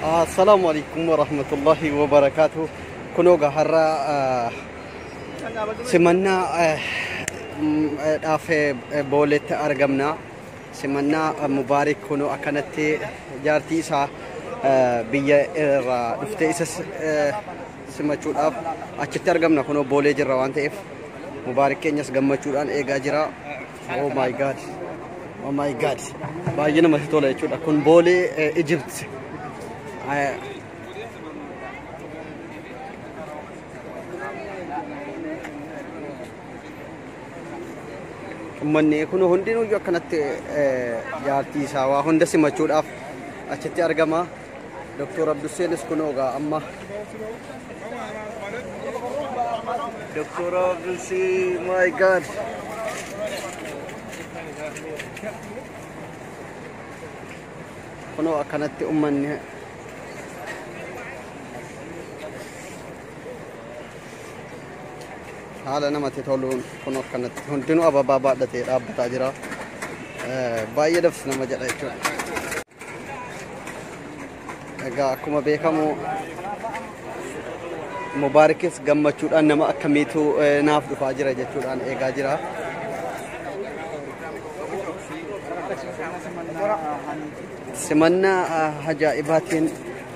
Assalaamu alaikum warahmatullahi wabarakaatu. Kunoo egaa har'a ah, simannaa eh, mm, eh, dhaaf eh, booletti argamna. Simannaa eh, Mubaarik kunoo akkanatti jaartii isaa eh, biyya irraa dhufte isas eh, simachuudhaaf achitti argamna. Kunoo boolee jirra waan ta'eef Mubaarik keenyas gammachuudhaan eegaa jira. Oh my god. Oh my god. Baay'ee namatti tola jechuudha. Kun boolee eh, Egypt. Eh, Uummanni kun hundinuu akkanatti eh, jaartii isaa waa hunda simachuudhaaf achitti argama. Doktor Abdusseenis kunoo egaa amma Doktor Abdussee my god kunoo akkanatti ummanni haala namatti toluun kun akkanatti hundinuu ababaa baadhatee dhaabbataa jira. Eh, Baay'ee dabsi nama jedha jechuudha. Egaa akkuma beekamu Mubaarikis gammachuudhaan nama akkamiitu eh, naaf dhufaa jira jechuudhaan eegaa jira. Simannaa ah, ajaa'ibaatiin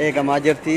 eegamaa jirti.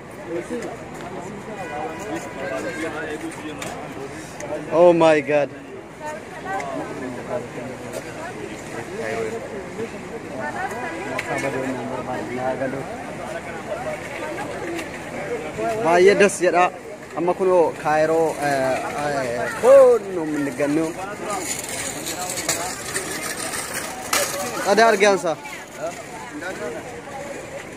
Oh my god. Baay'ee das jedha. Amma kunoo kaayiroo koonnu minnigannu. Ada argaansa.